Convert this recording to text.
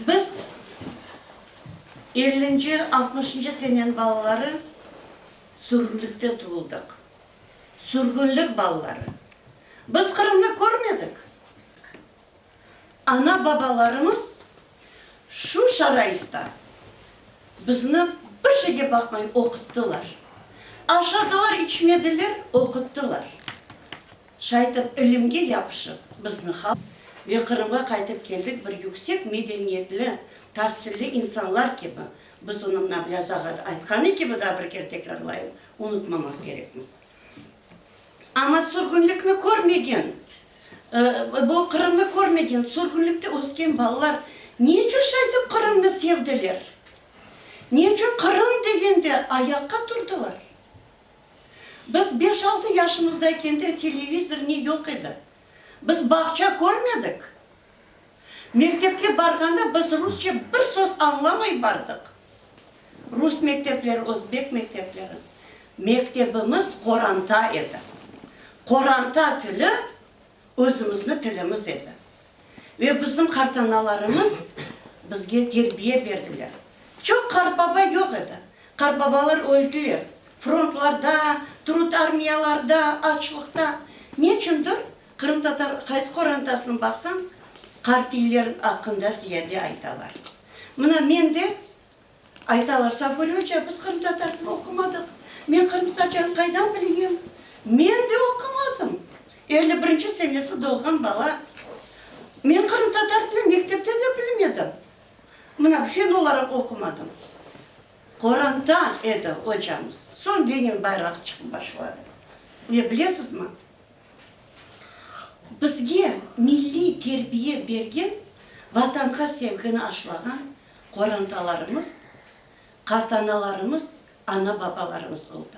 Biz, ellinci, altmışıncı senen balaları, sürgünlikte tuvuldıq. Sürgünlik balaları. Biz Qırımnı körmedik. Ana-babalarımız şu şaraitta bizni bir şeyge baqmay oquttılar. Aşadılar, içmediler, oquttılar. Şaytır ilimge yapışıp, biz Nihal ve Qırımğa qaytıp keldik bir yüksek medeniyetli, tasilli insanlar kibi, biz onıñ Nablâ Zağadı aytqanı kibi, daa bir kere tekrarlayım, unutmamaq kerekmiz. Amma sürgünlikni körmegen, bu Qırımnı körmegen, sürgünlikte ösken balalar ne içün şaytır Qırımnı sevdiler? Ne içün Qırım degende ayaqqa turdılar? Biz beş-altı yaşımızdayken de televizor ne yoq edi. Biz bağça körmedik. Mektepke barğanda biz rusça bir söz añlamay bardıq. Rus mektepleri, özbek mektepleri. Mektebimiz qoranta edi. Qoranta tili. Özümizni tilimiz edi. Ve bizim qartanalarımız bizge terbiye berdiler. Çoq qartbaba yoq edi. Qartbabalar öldiler. Frontlarda, trud armiyalarda, açlıqta. Neçündir, qırımtatar qaysı qorantasına baqsañ, qartiyler aqqında ziyade aytalar. Mına, men de. Aytalar, Safuri oca, biz qırımtatar tilini oqumadıq. Men qırımtatarca qaydan bileyim? Men de oqumadım. Elli birinci senesi doğğan bala. Men qırımtatar tilini mektepte de bilmedim. Mına, fen olaraq oqumadım. Qoranta edi ocamız. Soñ Lenin bayrağı çıqıp başladı. Ne bilesizmi? Bizge milliy terbiye bergen, Vatanğa sevgini aşlağan Qorantalarımız, qartanalarımız, ana-babalarımız oldı.